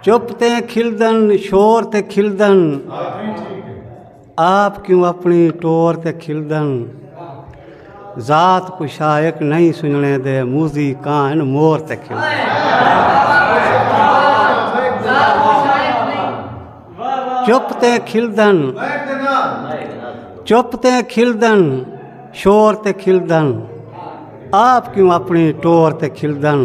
چپ تے کھلدن شور تے کھلدن آپ کیوں اپنی ٹور تے کھلدن ذات کو شائق نہیں سننے دے موزی کان مور تے کھلدن چپ تے کھلدن چپ تے کھلدن شور تے کھلدن آپ کیوں اپنی ٹور تے کھلدن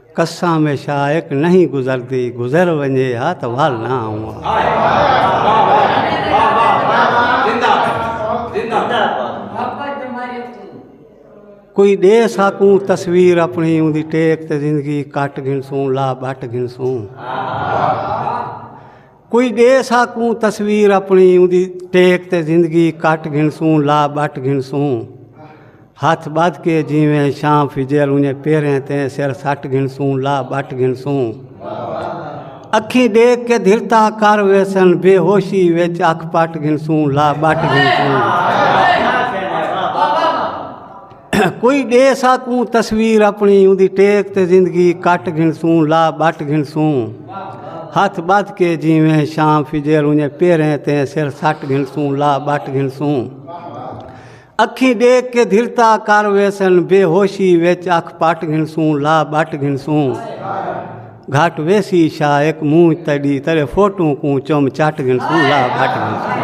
قساں میں شائق نہیں گزردی گزر ونجے ہا تو وال نہ آؤں کوئی دے ساکوں تصویر اپنی ان دی ٹیک تے زندگی کٹ گھنسوں لا بٹ گھنسوں کوئی ڈے ساکوں تصویر اپنی اوندی ٹیک تے زندگی کٹ گھنسوں لا بٹ گھنسوں ہتھ بدھ کے جیویں شام فجر انہیں پیریں تے سر سٹ گھنسوں لا بٹ گھنسوں اکھیں ڈیکھ کے دھرتا کر ویسن بے ہوشی وچ اکھ پٹ گھنسوں لا بٹ گھنسوں کوئی ڈے ساکوں تصویر اپنی اون دی ٹیک تے زندگی کٹ گھنسوں لا بٹ گھنسوں ہاتھ بات کے جیویں شام فجر انہیں پیریں تے سر سٹ گھنسوں لا بٹ گھنسوں اکھیں ڈیکھ کے دھرتا کر ویسن بے ہوشی وچ اکھ پٹ گھنسوں لا بٹ گھنسوں گھٹ ویسی شاہ ایک منہ تڑی تیرے فوٹو کو چم چٹ گھنسوں لا بٹ گھنسوں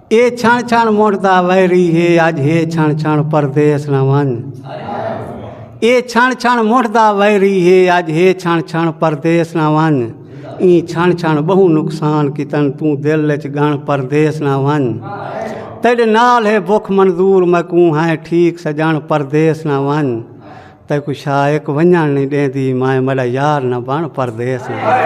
اے چھݨ چھݨ مڑدا ویری ہے اج ہے چھݨ چھݨ پردیس نہ ون اے چھݨ چھݨ مڑدا ویری ہے اج ہے چھݨ چھݨ پردیس نہ ون ایں چھݨ چھݨ بہو نقصان کیتن توں دل وچ گن پردیس نہ ون تیرے نال ہے بخ منظور میں کوں ہیں ٹھیک سجن پردیس نہ ون تے کو شائق ونجن نہیں دیندی میں میرا یار نہ بن پردیس نہ ون